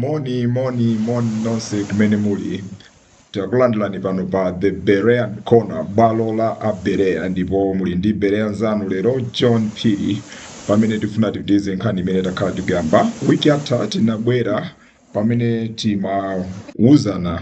Moni, moni, moni nonse kumene muli takulandilani pano pa the berean corner bwalo la abereya ndipo muli ndi bereya nzanu lero john phiri pamene tifuna tipitize nkhani imene takhala tikuyamba wiki yatha tinabwera pamene timawuzana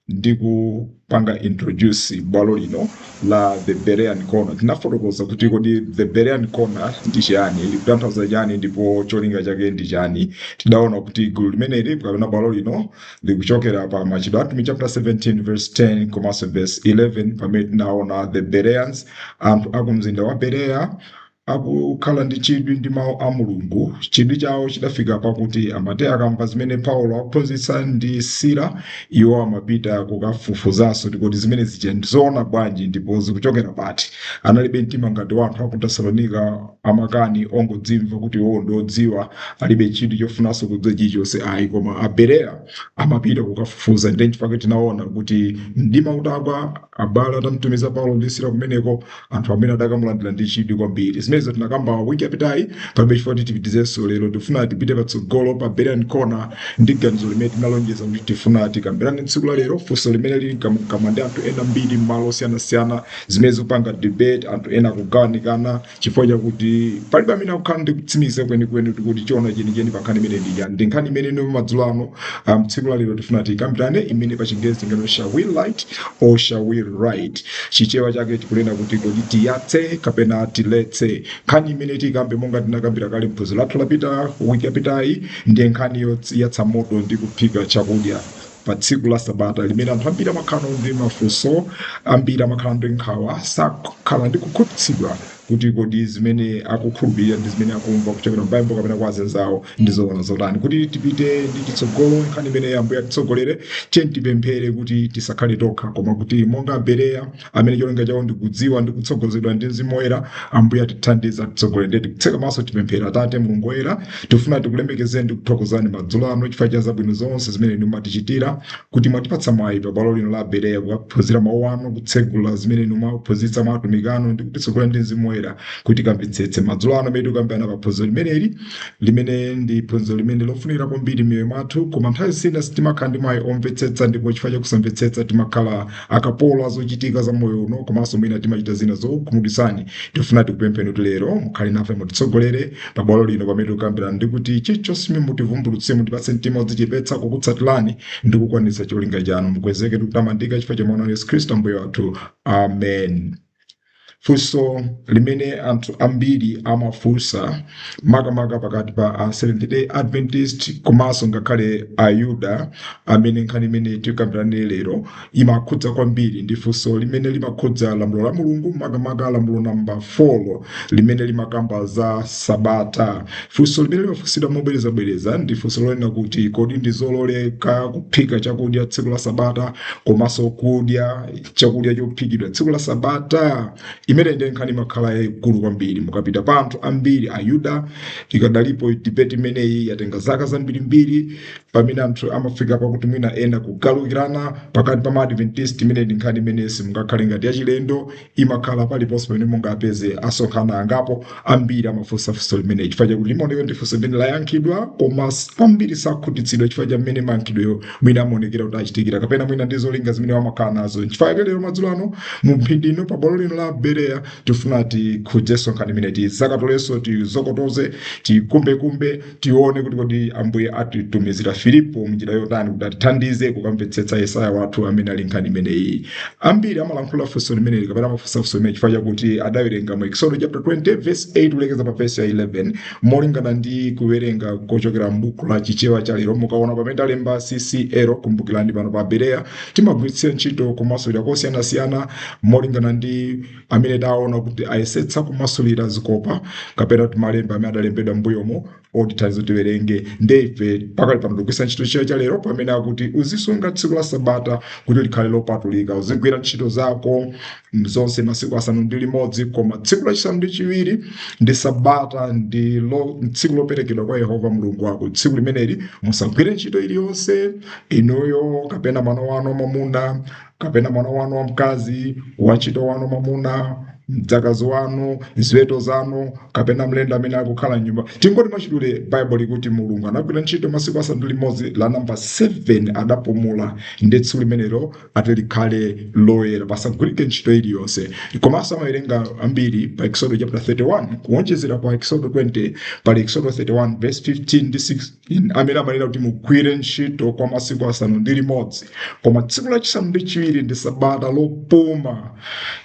ndi kupanga introduce bwalo lino la the Berean Corner. Tinafotokoza kuti kodi the Berean Corner ndi chani, likutanthauza chani ndipo cholinga chake ndi chani. Tidaona kuti gulu limeneli kapena bwalo lino likuchokera pa Machitidwe a Atumwi chapter 17 verse 10 komanso verse 11 pamene tinaona the Bereans, anthu a ku mzinda wa Berea Akukhala ndi chidwi ndi Mawu a Mulungu, chidwi chawo chidafika pakuti amati akamva zimene Paulo akuphunzitsa ndi Sila, iwo amapita kukafufuzanso kuti kodi zimene zija ndi zoona bwanji ndipo zikuchokera pati. Analibe mtima ngati wa anthu a ku Tesalonika amakani ongodzimva kuti iwowo ndi odziwa, alibe chidwi chofunanso kudziwa chilichonse ayi. Koma Abereya amapita kukafufuza. Ndiye n'chifukwa chake tinaona kuti mdima utagwa, Abale atamtumiza Paulo ndi Sila kumeneko, anthu amene adakamulandira ndi chidwi kwambiri. Zimenezo tinakamba wiki yapitayi, palibe chifukwa kuti tipitizenso lero. Tifuna tipite patsogolo pa Berean Corner ndi ganizo limene tinalonjeza kuti tifuna tikambirane tsiku la lero, funso limene lili mkamwamkamwa ndi anthu ena ambiri m'malo osiyanasiyana, zimene zikupanga debate, anthu ena kugawanikana, Chifukwa chakuti palibe amene akukhala ndi kutsimikiza kwenikweni kuti kodi choona chenicheni pa nkhani imene ndi chani. Ndi nkhani imene ino madzulo ano um, tsiku la lero tifuna tikambirane imene pa chingerezi tingati shall we light or shall we ride. Chichewa chake tikunena kuti kodi tiyatse kapena tiletse. Nkhani imene tikambe monga tinakambira kale mphunziro lathu lapita wiki yapitayi ndi nkhani yoyatsa moto ndi kuphika chakudya. pa tsiku la sabata limene anthu ambiri amakhala ndi mafunso ambiri amakhala ndi nkhawa sakhala ndi kukhutitsidwa kuti kodi zimene akukhulupirira ndi zimene akumva kuchokera m'baibulo kapena kwa azinzawo ndi zoona zotani kuti tipite ndi chitsogolo nkhani imene ambuye atitsogolere tiyeni tipemphere kuti tisakhale tokha koma kuti monga abereya amene cholinga chawo ndikudziwa ndi kutsogozedwa ndi mzimu woyera ambuye atithandize atitsogolere ndiye tikutseka maso tipemphere atate mulungu woyera tifuna tikulemekezeni ndi kuthokozani madzulo ano chifukwa cha zabwino zonse zimene inu mumatichitira kuti mwatipatsa mwayi pa bwalo lino la abereya kukaphunzira mawu anu kutsegula zimene inu mwaphunzitsa mwa atumiki anu ndi kutitsogolera ndi mzimu woyera kuti tikamvetsetse madzulo ano pamene tikukambirana pa phunziro limeneli limene ndi phunziro limene lofunikira kwambiri m'miyoyo mwathu koma nthawi zina sitimakhala ndi mwayi omvetsetsa ndipo chifukwa cha kusamvetsetsa timakhala akapolo a zochitika za moyo uno komanso mwina timachita zina zokukhumudwitsani tifuna tikupempheni kuti lero mukhale nafe mutitsogolere pa bwalo lino pamene tikukambirana ndi kuti chilichonse chimene mutivumbulutse mutipatse mtima wodzichepetsa kukutsatirani ndi kukwaniritsa cholinga chanu mukwezeke ndi kutamandika chifukwa cha mwana wanu yesu khristu ambuye wathu amen Funso limene anthu ambiri amafunsa makamaka pakati pa a Seventh Day Adventist komanso ngakhale Ayuda amene nkhani imene tikambirane lero imakhudza kwambiri ndi funso limene limakhudza lamulo la Mulungu makamaka lamulo namba 4 limene limakamba za Sabata. Funso limene limafunsidwa mobwerezabwereza ndi funso lonena kuti kodi ndi zololeka kuphika chakudya tsiku la Sabata komanso kudya chakudya chophikidwa tsiku la sabata imene ndi nkhani imakhala yaikulu kwambiri mukapita pa anthu ambiri ayuda ikadalipo debate imeneyi yatenga zaka zambirimbiri pamene anthu amafika pakuti mwina ena kugalukirana pakati pa maadventist imene ndi nkhani imene simungakhale ngati yachilendo imakhala paliponse pamene mungapeze asonkhana angapo Ambiri amafunsa funso limeneli chifukwa chakuti limaoneka ndi funso limene layankhidwa, koma ambiri sakhutitsidwa chifukwa cha mmene mayankhidwewo mwina amaonekera kuti achitikira, kapena mwina ndi zolinga zimene amakhala nazo. Nchifukwa chake lero madzulo ano mu mphindi ino pa bwalo lino la Bereya tifuna tikhudzenso nkhani imeneyi, tizakatolenso, tizokotoze, tikumbekumbe tione kuti kodi ambuye atitumizira filipo mnjira yotani kuti atithandize kukamvetsetsa yesaya wathu amene ali nkhani imeneyi ambiri amalankhula funso limeneli kapena amafunsa funso limene chifukwa chakuti adawerenga mu eksodo chapter 20 verse 8 kulekeza pa verse ya 11 molingana ndi kuwerenga kochokera m'buku la chichewa cha lero mukaona pamene talemba ccl kumbukirani pano pa bereya timagwiritsira ntchito kumasulira kosiyanasiyana molingana ndi amene taona kuti ayesetsa kumasulira zikopa kapena kuti malemba amene adalembedwa m'mbuyomo otithandiza tiwerenge nde ife pakali pano tikugwiritsa ntchito chichewa cha lero pamene akuti uzisunga tsiku la sabata kuti likhale lopatulika uzigwira ntchito zako zonse masiku asanu ndi limodzi koma tsiku lachisanu ndi chiwiri ndi sabata ndi lo, tsiku loperekedwa kwa yehova mulungu wako tsiku limeneli musagwire ntchito iliyonse inuyo kapena mwana wanu mwamuna kapena mwana wanu wamkazi wantchito wanu mwamuna mdzakazi wanu ziweto zanu kapena mlendo amene akukhala mnyumba tingoti mwachidule baibulo likuti mulungu anagwira ntchito masiku asanu ndi limodzi la namba 7 adapumula ndiye tsiku limenelo ati likhale loyera pasagwirike ntchito iliyonse komanso amawerenga ambiri pa eksodo chapter 31 kuwonjezera pa eksodo 20 pali eksodo 31 verse 15 ndi 16 amene amanena kuti mugwire ntchito kwa masiku asanu ndi limodzi koma tsiku lachisanu ndi chiwiri ndi sabata lopuma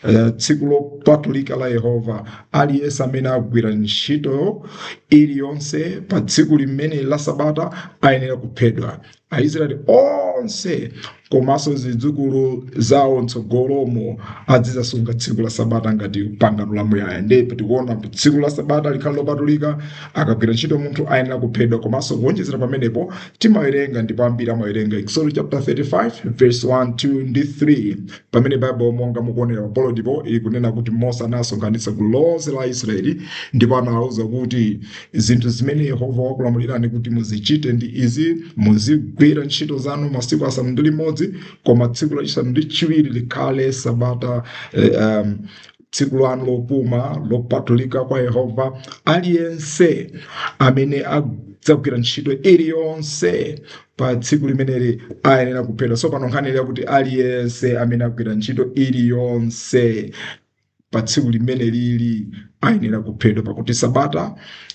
eh, tsiku lopatulika la yehova aliyense amene agwira ntchito iliyonse pa tsiku limene la sabata ayenera kuphedwa aisraeli onse komanso zidzukulu zawo mtsogolomo azizasunga tsiku la sabata ngati pangano la muyaya ndipo tikuona kuti tsiku la sabata likhala lopatulika akagwira ntchito munthu ayenera kuphedwa komanso kuwonjezera pamenepo timawerenga ndipo ambiri amawerenga exodo chapter 35 verse 1 2 ndi 3 pamene baibulo monga mukuonera pabolodipo ikunena kuti mose anasonkhanitsa gulu lonse la israeli ndipo anawawuza kuti Zinthu zimene Yehova wakulamulirani kuti muzichite ndi izi, muzigwira ntchito zanu masiku asanu ndi limodzi, koma tsiku lachisanu ndi chiwiri likhale sabata eh, um, tsiku lanu lopuma lopatulika kwa Yehova. Aliyense amene adzagwira ntchito iliyonse pa tsiku limeneli ayenera kuphedwa. So pano nkhani yakuti aliyense amene agwira ntchito iliyonse pa tsiku limeneli ayenera kuphedwa pakuti sabata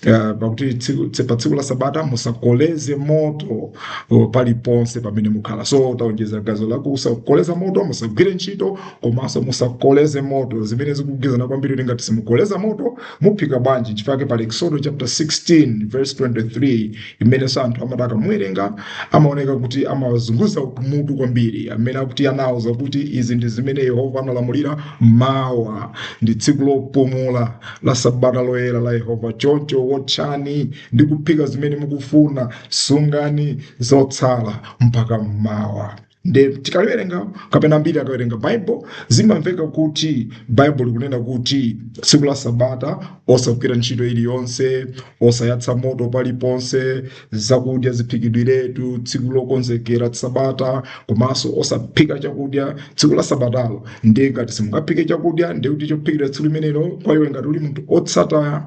uh, pakuti tsiku, tse- pa tsiku la sabata musakoleze moto uh, paliponse pamene mukhala so taonjeza gawo la kusakoleza moto musagwire ntchito komanso musakoleze moto zimene zikugwirizana kwambiri kuti ngati simukoleza moto muphika bwanji chifukwa chake pali exodo chapter 16 verse 23 imenenso anthu amati akamuwerenga amaoneka kuti amazunguza mutu kwambiri amene akuti anauza kuti izi ndi zimene yehova analamulira Mawa ndi tsiku lopumula la sabata loyera la Yehova, choncho wotchani ndi kuphika zimene mukufuna. Sungani zotsala mpaka mmawa. Nde tikaliwerenga kapena ambiri akawerenga Baibulo zimamveka kuti Baibulo likunena kuti tsiku la sabata osagwira ntchito iliyonse, osayatsa moto paliponse zakudya ziphikidwiretu tsiku lokonzekera sabata komanso osaphika chakudya tsiku la sabatalo ndiye ngati simungaphike chakudya ndiye kuti chophikidwa tsiku limenelo kwa iwe ngati uli munthu otsata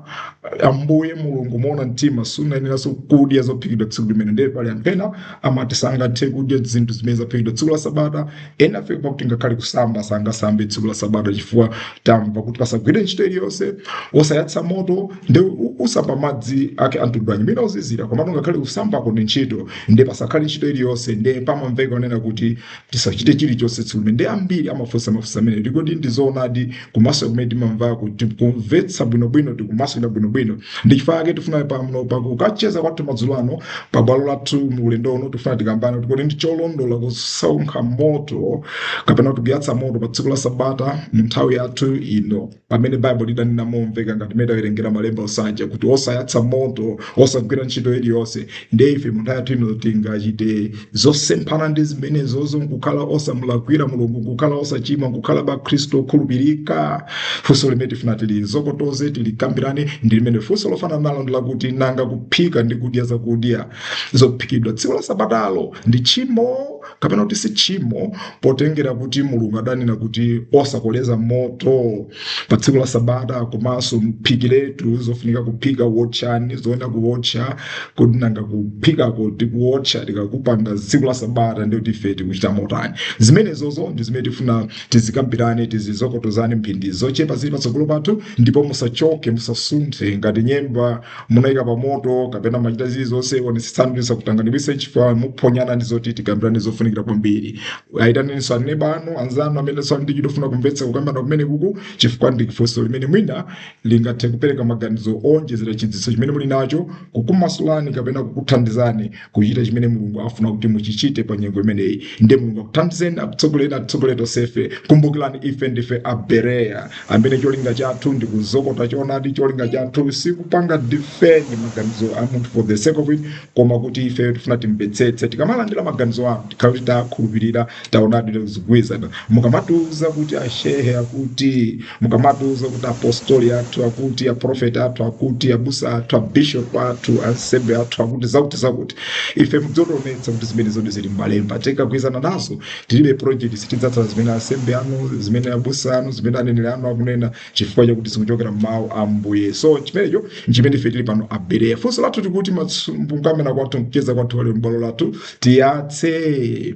ambuye mulungu moona mtima sunayeneranso kudya zophikidwa tsiku limenelo ndiye pali anthu ena amati sangathe kudya zinthu zimene zaphikidwa tsiku la sabata ena afika pakuti ngakhale kusamba sangasambe tsiku la sabata chifukwa tamva kuti pasagwiridwe ntchito iliyonse osayatsa moto nde u- usamba madzi ake amtundu wanji mwina ozizira komano ngakhale kusambako ndi ntchito nde pasakhale ntchito iliyonse nde pamamveka kunena kuti tisachite chilichonse tsiku limenelo nde ambiri amafunsa mafunso amenewa kodi ndizoonadi kumasulira kumene timamvako tikumvetsa bwinobwino tikumasulira bwinobwino ndi chifukwa chake tifuna pano pakucheza kwathu madzulo ano pa bwalo lathu mu ulendo uno tifuna tikambirane kuti kodi ndi cholondola kusonkha moto kapena kuti kuyatsa moto pa tsiku la sabata mu nthawi yathu ino pamene baibulo lidanena momveka ngati mmene tawerengera malemba aja kuti osayatsa moto osagwira ntchito iliyonse ndiye ife munthawi yathu ino tingachite zosemphana ndi zimenezo nkukhala osamulakwira mulungu nkukhala osachimwa nkukhala akhristu okhulupirika funso limene tifuna tilifotokoze tilikambirane ndi limenelo funso lofanana nalo ndi lakuti nanga kuphika ndi kudya zakudya zophikidwa tsiku la sabatalo ndi tchimo kapena kuti sitchimo potengera kuti mulungu adanena kuti osakoleza moto pa tsiku la sabata komanso muphikiretu zofunika kuphika wotchani zoyenera kuwotcha kodi nanga kuphikako ndi kuwotcha tikakupanga tsiku la sabata ndiye kuti ife tikuchita motani zimenezozo ndi zimene tifuna tizikambirane tizizokotozane mphindi zochepa zili patsogolo pathu ndipo musachoke musasunthe ngati nyemba munaika pa moto kapena mumachita zili zonse onetsetsani kuti zisakutanganikitse chifukwa muphonyana ndi zoti tikambirane zofunikira kwambiri ayitaneninso aneba anu anzanu amenenso ali ndi chidwi chofuna kumvetsa kukambirana kumene kuku chifukwa ndi funso limene mwina lingathe kupereka maganizo owonjezera chidziwitso chimene muli nacho kukumasulani kapena kukuthandizani kuchita chimene mulungu afuna kuti muchichite pa nyengo imeneyi ndiye mulungu akuthandizeni akutsogoleni atitsogoleni tonsefe kumbukirani ife ndife abereya amene cholinga chathu ndi kuzukuta choonadi cholinga chathu sikupanga defend maganizo a munthu for the sake of it koma kuti ife tifuna timvetsetse tikamalandira maganizo anu tikhala kuti takhulupirira taonadi zikugwirizana mukamatiuza kuti ashehe akuti mukamatiuza kuti apostoli athu akuti aprofeti athu akuti abusa athu abishop athu ansembe athu akuti zakuti zakuti ife muzitionetsa kuti zimenezodi zili mmalemba tikagwirizana nazo tilibe objection tidzatsata zimene ansembe anu zimene abusa anu zimene aneneri anu akunena chifukwa chakuti zikuchokera m'mawu a ambuye so chimenecho nchimene ife tili pano abereya funso lathu tikuti mukukambirana kwathu mkucheza kwathu kwa lero m'bwalo lathu tiyatse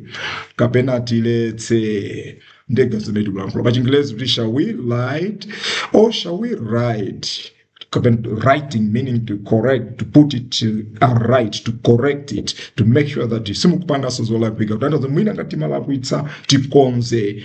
kapena tiletse ndiye zimene tikulankhula pa chingelezi kuti shall we light or shall we right kapena righting meaning to correct to put it uh, right to correct it to make sure that simukupanganso zolakwika kutanthauza mwina ngati timalakwitsa tikonze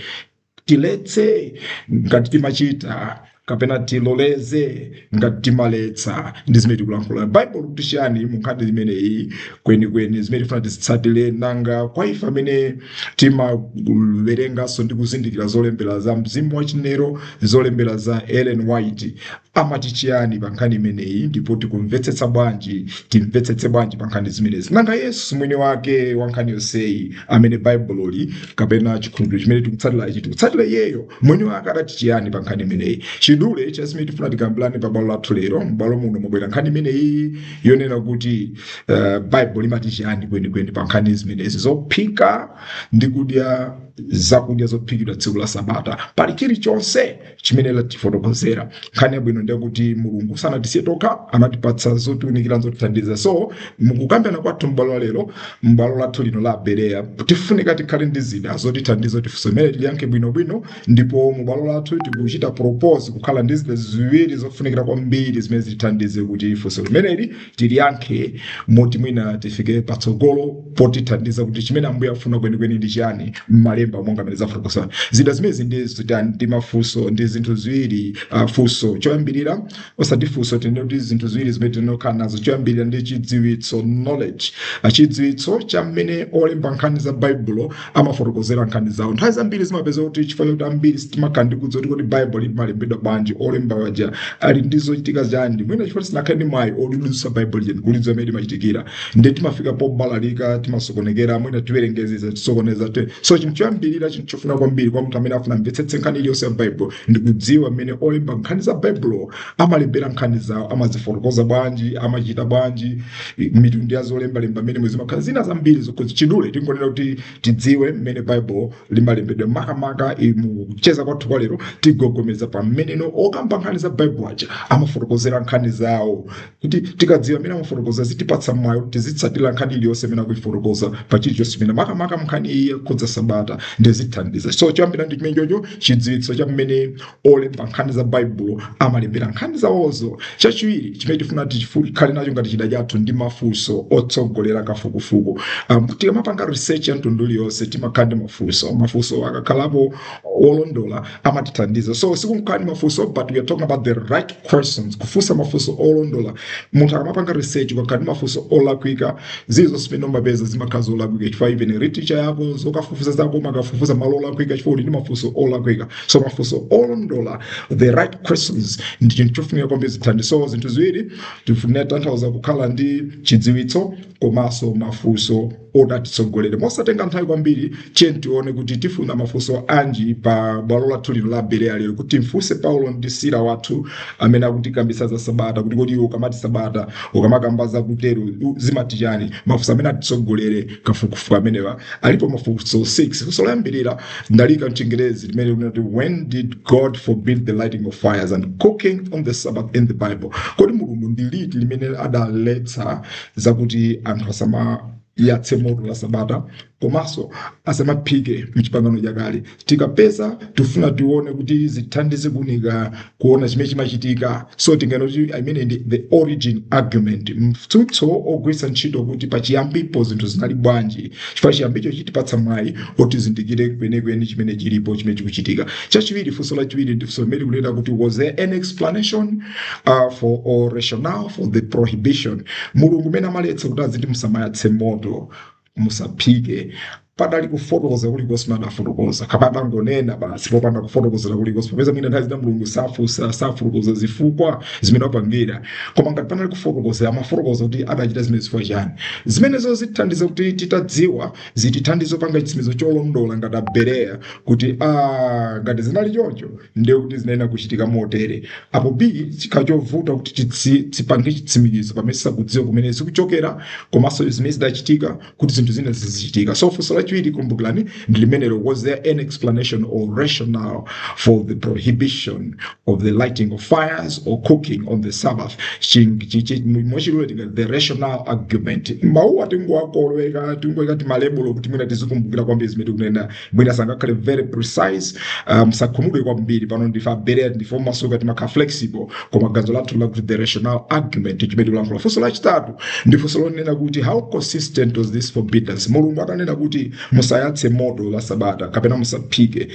Tiletse ngati timachita kapena tiloleze ngati timaletsa ndi zimene tikulankhula baibulo likuti chiyani mu nkhani imeneyi kwenikweni zimene tifuna tizitsatire nanga kwa ife amene timawerenganso ndi kuzindikira zolembera za mzimu wa chinenero zolembera za ellen white amati chiyani pa nkhani imeneyi ndipo tikumvetsetsa bwanji timvetsetse bwanji pa nkhani zimenezi nanga yesu mwini wake wa nkhani yonseyi amene baibuloli kapena chikhulupiriro chimene tikutsatira ichi tikutsatira iyeyo mwini wake adati chiyani pa nkhani imeneyi chidule cha zimene tifuna tikambirane pa bwalo lathu lero m'bwalo muno mwabwera nkhani imeneyi yonena kuti uh, baibulo limati chiyani kwenikweni pa nkhani zimenezi zophika ndi kudya zakudya zophikidwa tsiku la sabata pali chilichonse chimene latifotokozera nkhani yabwino ndi yakuti mulungu sanatisiye tokha anatipatsa zotiunikira zotithandiza so mukukambirana kwathu m'bwalo la lero m'bwalo lathu lino la abereya tifunika tikhale ndi zida zotithandiza kuti funso limeneli tiliyankhe bwinobwino ndipo m'bwalo lathu tikuchita propose kukhala ndi zida ziwiri zofunikira kwambiri zimene zitithandize kuti funso limeneli tiliyankhe moti mwina tifike patsogolo potithandiza kuti chimene ambuye afuna kwenikweni ndi chiyani m'malemba monga mmene tafotokozera zida zimenezi ndi zida ndi mafunso ndi zinthu ziwiri uh, funso choyambirira osati funso tinene kuti zinthu ziwiri zimene tifuna tikhale nazo choyambirira ndi chidziwitso knowledge uh, chidziwitso cha mmene olemba nkhani za baibulo amafotokozera nkhani zawo nthawi zambiri timapeza kuti chifukwa choti ambiri sitimakhala ndi kudziwa kuti kodi baibulo limalembedwa bwanji olemba waja ali ndi zochitika zanji mwina chifukwa sitinakhale ndi mwayi olidutsa baibulo lija ndikulidziwa mmene limachitikira ndiye timafika pobalalika timasokonekera mwina tiwerengetsetsa tisokoneza te so chinthu choyambirira chinthu chofunika kwambiri kwa munthu amene afuna amvetsetse nkhani iliyonse ya baibulo ndi kudziwa mmene olemba nkhani za baibulo amalembera nkhani zawo amazifotokoza bwanji amachita bwanji mitundu ya zolembalemba mmene zimakhala zina zambiri zokhudza mwachidule tingonena kuti tidziwe mmene baibulo limalembedwera makamaka i- mu kucheza kwathu kwa lero tigogomeza pa mmene okamba nkhani za baibulo aja amafotokozera nkhani zawo kuti tikadziwa mmene amafotokoza zitipatsa mwayi woti tizitsatira nkhani iliyonse imene akuifotokoza pa chilichonse imene makamaka mnkhani iyi yokhudza sabata zitithandiza so choyambira ndi chimenechocho chidziwitso cha mmene olemba nkhani za baibulo amalembera nkhani zawozo chachiwiri chimene tifuna tikhale nacho ngati chida chathu ndi mafunso otsogolera kafukufuku um, tikamapanga research ya mtundu uliyonse timakhala ndi mafunso mafunso akakhalapo olondola amatithandiza so sikungokhala ndi mafunso but we are talking about the right questions kufunsa mafunso olondola munthu akamapanga research ukakhala ndi mafunso olakwika zilizonse zimene umapeza zimakhala zolakwika chifukwa even research yako zokafufuza zako umakafufuza malo olakwika chifukwa uli ndi mafunso olakwika so mafunso olondola the right questions ndi chinthu chofunika kwambiri zithandizo zinthu ziwiri tikutanthauza kukhala ndi chidziwitso komanso mafunso oti atitsogolere mosatenga nthawi kwambiri tiyeni tione kuti tifuna mafunso anji pa bwalo lathu lino la bereya lero kuti mfunse paulo ndi sila wathu amene akutikambisa za sabata kuti kodi iwe ukamati sabata ukamakamba za kutero u- zimati chani mafunso amene atitsogolere kafukufuku amenewa alipo mafunso 6 funso loyambirira ndaliika mchingerezi limene likunena kuti when did god forbid the lighting of fires and cooking on the sabbath in the bible kodi mulungu ndi liti limene adaletsa zakuti anthu asamayatse moto la sabata komanso asamaphike mchipangano chakale tikapeza tifuna tione kuti zithandize kuunika kuona chimene chimachitika so tinganene kuti imeneyi ndi the origin argument mtsutso ogwiritsa ntchito kuti pachiyambipo zinthu zinali bwanji chifukwa chiyambicho chitipatsa mwayi oti tizindikire kwenikweni chimene chilipo chimene chikuchitika chachiwiri funso lachiwiri ndi funso limene likunena kuti was there an explanation uh, for or rationale for the prohibition mulungu mmene amaletsa kuti aziti musamayatse moto musaphike padali kufotokoza kulikonse mene adafotokoza kapena adangonena basi popanda kufotokozera kulikonse popeza mwina nthawi zina mulungu safunsa safotokoza zifukwa zimene wapangira koma ngati panali kufotokozera amafotokoza kuti adachita zimenezi chifukwa chani zimenezo zitithandiza kuti titadziwa zitithandiza kupanga chitsimikizo cholondola ngati Abereya kuti ah, ngati zinali choncho ndiye kuti zinayenera kuchitika motere apo b zikhala zovuta kuti titsi- tipange chitsimikizo pamene sitikudziwa kumene zikuchokera komanso zimene zidachitika kuti zinthu zina zizichitika so funso lachiwiri kumbukirani ndi limenelo was there an explanation or rationale for the prohibition of the lighting of fires or cooking on the sabbath Ching- chi- chi- mwachidule tingati the rational argument mawuwa tingowakoleka tingoyika timalebulo kuti mwina tizikumbukira kwambiri zimene tikunena mwina sangakhale very precise um, musakhumudwe kwambiri pano ndife aberea ndife omasuka timakhala flexible koma ganzo lathu ndi lakuti the rational argument chimene tikulankhula funso lachitatu ndi funso lonena kuti how consistent was this forbiddance mulungu atanena kuti musayatse moto la sabata kapena musaphike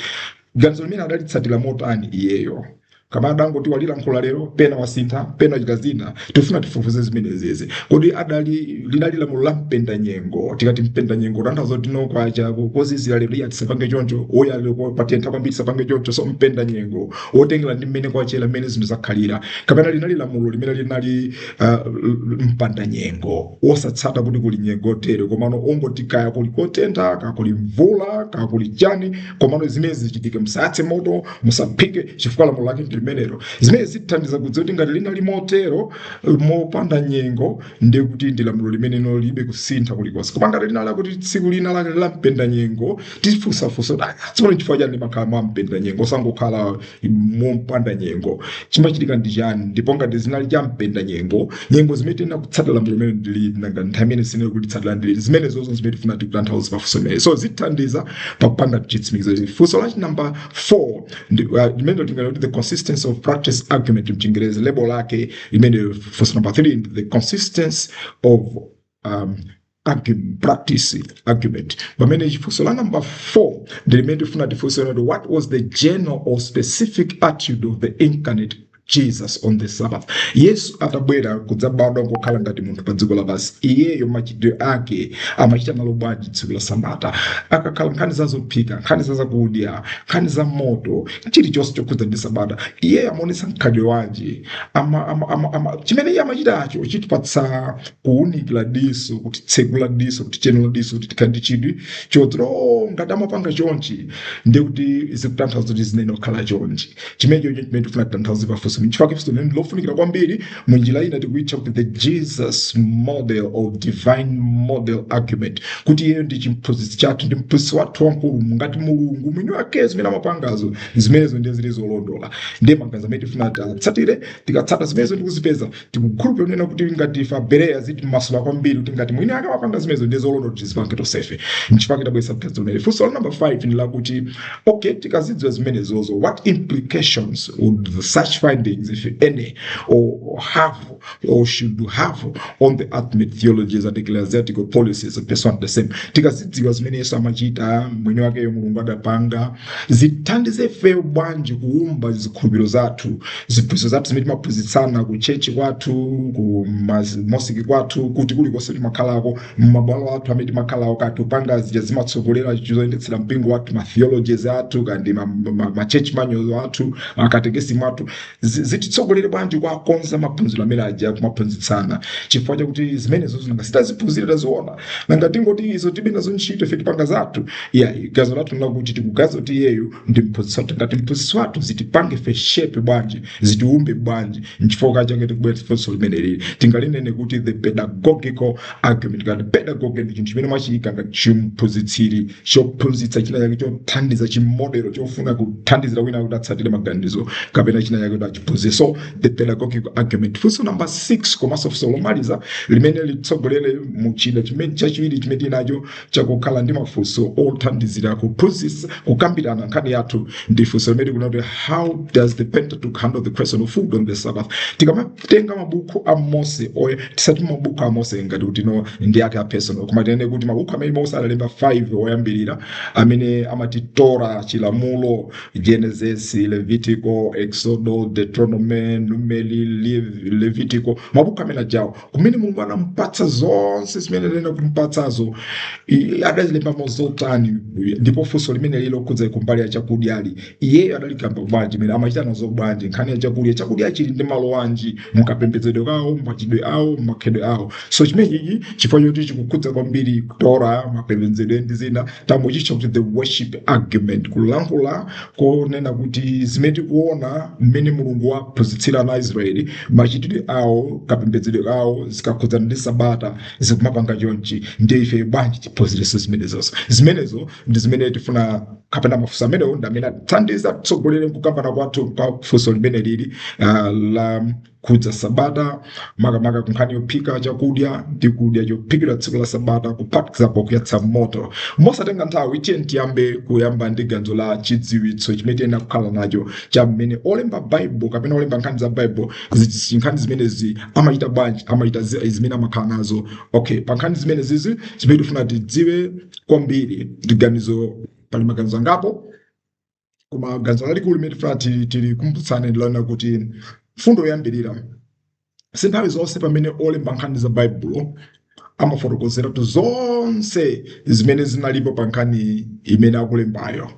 ganzo limene adalitsatira motani iyeyo kapena adangoti walilankhula lero pena wasintha pena chita zina tifuna tifufuze zimenezi kodi adali linali lamulo la mpenda nyengo tikati mpenda nyengo titanthauza kuti no kwacha kuzizira lero iya tisapange choncho oya lero ko- patentha kwambiri tisapange choncho so mpenda nyengo wotengera ndi mmene kwachera mmene zinthu zakhalira kapena linali lamulo limene linali ah, mpanda nyengo wosatsata kuti kuli nyengo tere komano ongoti kaya kuli kotentha kaya kuli mvula kaya kuli chani komano zimene zichitike musayatse moto musaphike chifukwa lamulo lake ndi limenelo zimene zitithandiza kudziwa kuti ngati linali motero mopanda nyengo ndiye kuti ndi lamulo limene linalibe kusintha kulikonse koma ngati linali kuti tsiku lina lake la mpenda nyengo tifunsafunsa kuti "Ah, tsopano chifukwa chani limakhala mwa mpenda nyengo osangokhala mompanda nyengo chimachitika ndi chani ndipo ngati zinali cha mpenda nyengo nyengo zimene tiyenera kutsatira lamulo limeneli ndi liti nanga nthawi imene sitiyenera kulitsatira ndi liti zimene zonse zimene tifuna tikutanthauza pafunso limene so zitithandiza pakupanga chitsimikizo ichi funso lachi number 4 ndi- uh, limene tinganene kuti the consistency of practice argument mchingerezi lebo lake limene funso number 3 ndi the consistency of um, argu- practice argument pamene funso la number 4 ndi limene tifuna tifunse kuti what was the general or specific attitude of the incarnate jesus on the sabbath yesu atabwera kudzabadwa nkukhala ngati munthu pa dziko lapansi iyeyo machitidwe ake amachita nalo bwanji tsiku la sabata akakhala nkhani za zophika nkhani za zakudya nkhani za moto chilichonse chokhudza ndi sabata iyeyo amaonetsa mkhalidwe wanji ama, ama, ama, ama, chimene iye amachitacho chitipatsa kuunikira diso kutitsegula diso kutichenula diso kuti tikhale ndi chidwi chodziwa o ngati amapanga chonchi ndi kuti zikutanthauza kuti ziyenera kukhala chonchi chimene chocho chimene tifuna titanthauze pafunso nchifukwa chake funso limene lofunikira kwambiri mu njira ina tikuitcha kuti the jesus model of divine model argument kuti iyeyo ndi chimphunzitsi chathu ndi mphunzitsi wathu wamkulu ngati mulungu mwini wake zimene amapangazo zimenezo ndiye zili zolondola ndiye maganizo amene tifuna titsatire tikatsata zimenezo ndi kuzipeza tikukhulupirira kunena kuti ngati ife abereya zitimasula kwambiri kuti ngati mwini ake wapanga zimenezo ndiye zolondola kuti tizipange tonsefe nchifukwa chake tabweretsa mtadzi umene funso la number 5 ndi lakuti okay tikazidziwa zimenezozo what implications would such findings if any or have or should have on the ultimate theologies and ecclesiastical policies of pursuing the same tikazidziwa zimene yesu amachita mwini wakeyo mulungu adapanga zitithandize ifeyo bwanji kuumba zikhulupiriro zathu ziphunzitso zathu zimene timaphunzitsana ku chechi kwathu ku mas- mosiki kwathu kuti kulikonse timakhalako mmabwalo athu amene timakhalako kati kupanga zija zimatsogolera zoyendetsera mpingo wathu matheologies athu kaya ndi ma- ma- ma- ma church manual athu akatekesi mwathu zi- zititsogolere bwanji kuwakonza maphunziro amene aja kumaphunzitsana chifukwa chakuti zimenezo zinanga sitaziphunzire taziona nanga tingoti izo tilibe nazo ntchito ife tipanga zathu iyayi ganizo lathu nlakuti tikuganiza kuti iyeyo ndi mphunzitsi wathu ngati mphunzitsi wathu zitipange ife shape bwanji zitiumbe bwanji nchifukwa chake tikubwera funso limeneli tingalinene kuti the pedagogical argument ngati pedagogy ndi chinthu chimene mwachiyika ngati chimphunzitsiri chophunzitsa china chake chothandiza chimodelo chofuna kuthandizira wina kuti atsatire maganizo kapena china chake kuti achiphunzire so the pedagogic argument funso number 6 komanso funso lomaliza limene litsogolere mu chida chachiwiri chimene tinacho chakukhala ndi mafunso othandizira kuphunzitsa kukambirana nkhani yathu ndi funso limene tikunena kuti how does the pentateuch handle the question of food on the sabbath tikamatenga mabuku a mose okay sitikuti mabuku a mose ngati kuti no ndi ake a personal koma tinene kuti mabuku amene mose analemba 5 oyambirira amene amati tora chilamulo genesis levitico exodo deuteronomy numeri Lev- levitico mabuku amene ajawo kumene mulungu anamupatsa zonse zimene anayenera kumupatsazo i- adazilembamo zotani ndipo funso limene lili lokhudza kumbali ya chakudyali iyeyo adalikamba bwanji mene amachita nazo bwanji nkhani ya chakudya chakudya chili ndi malo anji mukapembedzedwe kawo mumachitidwe awo mumakhalidwe awo so chimenechi chifukwa choti chikukhudza kwambiri ku tora mapembedzedwe ndi zina tangochitcha kuti the worship argument kulankhula konena kuti zimene tikuona mmene mulungu waphunzitsira ana aisraeli machitidwe awo kapembedzedwe kawo zikakhudzana ndi sabata zikumapanga chonchi ndiye ife bwanji tiphunzirenso zimenezozo zimenezo ndi zimene tifuna kapena mafunso amenewo ndi amene atithandiza atitsogolere mkukambana kwathu pa funso limene lili ah, la kukhudza sabata makamaka kunkhani yophika chakudya ndi kudya chophikidwa tsiku la sabata kuphatikizapo kuyatsa moto mosatenga nthawi tiyeni tiyambe kuyamba ndi ganizo la chidziwitso chimene tiyenera kukhala nacho cha mmene olemba baibulo kapena olemba nkhani za baibulo zi- nkhani zimenezi amachita bwanji amachita zinthu zimene amakhala nazo okay pa nkhani zimenezizi zimene tifuna tidziwe kwambiri ndi ganizo pali maganizo angapo Koma ganizo lalikulu limene tifuna ti- tilikumbutsane ndi lonena kuti mfundo yoyambirira si nthawi zonse pamene olemba nkhani za baibulo amafotokozeratu zonse zimene zinalipo pa nkhani imene akulembayo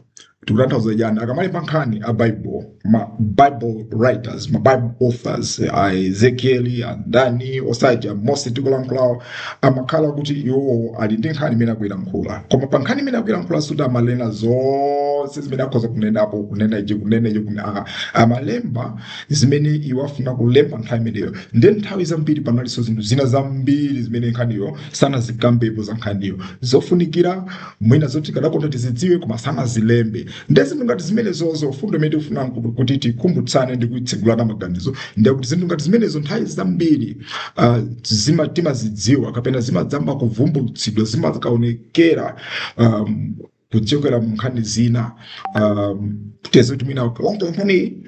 tikutanthauza chiyani akamalemba nkhani a bible ma bible writers ma bible authors a ezekieli andani osati a mose tikulankhulawo amakhala kuti iwowo ali ndi nkhani imene akuilankhula koma pa nkhani imene akuilankhula sikuti amanena zonse zimene akhoza kunenapo kunena ichi kunena ichi kune- ah, amalemba zimene iwo afuna kulemba nthawi imeneyo nde nthawi zambiri panalinso zinthu zina zambiri zimene nkhaniyo sanazikambepo za nkhaniyo zofunikira mwina zoti tikadakonda tizidziwe koma sanazilembe nde zinthu ngati zimenezozo mfundo imene tikufuna nkuti- kuti tikumbutsane ndi kuitsegulana maganizo ndiye kuti zinthu ngati zimenezo nthawi zambiri uh, zima- timazidziwa kapena zimadzayamba kuvumbulutsidwa zimakaonekera um, kuchokera mu nkhani zina um, zoti mwina olo nkhani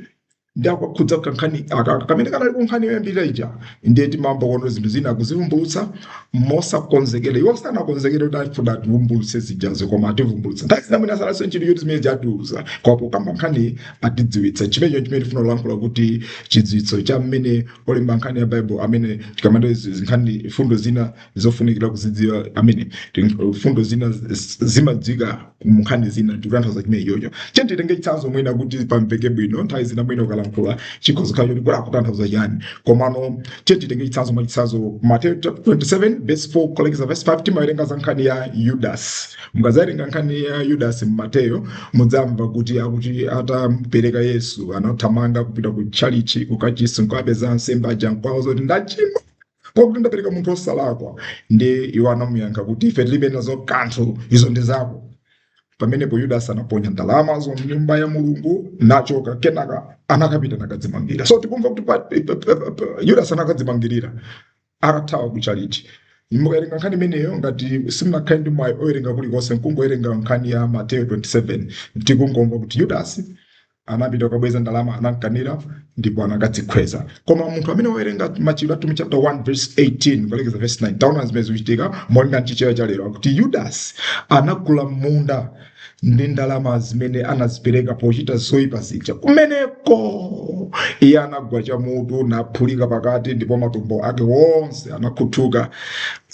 ndi yakukhudza kankhani aka kamene kanali ku nkhani yoyambirira ija ndiye timamva kuno zinthu zina akuzivumbulutsa mosakonzekera iwo sanakonzekere kuti afuna ativumbulutse zijazo koma ativumbulutsa nthawi zina mwina alibenso ntchito choti zimene atiuza koma pokamba nkhani atidziwitsa chimenecho chimene tifuna kulankhula kuti chidziwitso cha mmene olemba nkhani ya baibulo amene akamba nkhani mfundo zina zofunikira kuzidziwa amene mfundo zina zimadziwika munkhani zina ndikutanthauza chimene iyocho tiyeni titenge chitsanzo mwina kuti pamveke bwino nthawi zina mwina ukalankhula zikhoza kukhala kuti kuti akutanthauza chiyani komano tiyeni titenge chitsanzo mwa chitsanzo mateyu chapter 27 verse 4 kulekeza verse 5 timawerenga za nkhani ya yudasi mukadzawerenga nkhani ya yudasi mmateyu mudzamva kuti akuti atampereka yesu anathamanga kupita ku tchalichi kukachisi nkukapeza ansembe aja nkuwauza kuti ndachimwa Pakuti ndapereka munthu wosalakwa. Ndiye iwo anamuyankha kuti, Ife tilibe nazo kanthu, izo ndi zako. Pamenepo Yudasi anaponya ndalamazo m'nyumba ya Mulungu nachoka, kenaka anakapita nakadzimangirira. So tikumva kuti pa- pa- pa- pa- pa- Yudasi anakadzimangirira atathawa ku tchalitchi. Ukawerenga nkhani imeneyo ngati sunakhale ndi mwayi owerenga kulikonse, nkungowerenga nkhani ya Mateyu 27 tikungomva kuti Yudasi anapita kukabweza ndalama anamkanira ndipo anakadzikhweza koma munthu amene wawerenga machitidwe atumwi chapter 1 verse 18 kukalekeza verse 19 taona zimene zikuchitika molinga mchichewa cha lero akuti yudasi anagula munda ndi ndalama zimene anazipeza pochita zoyipa zija kumeneko iye anagwa chamutu naphulika pakati ndipo matumbo ake wonse anakhuthuka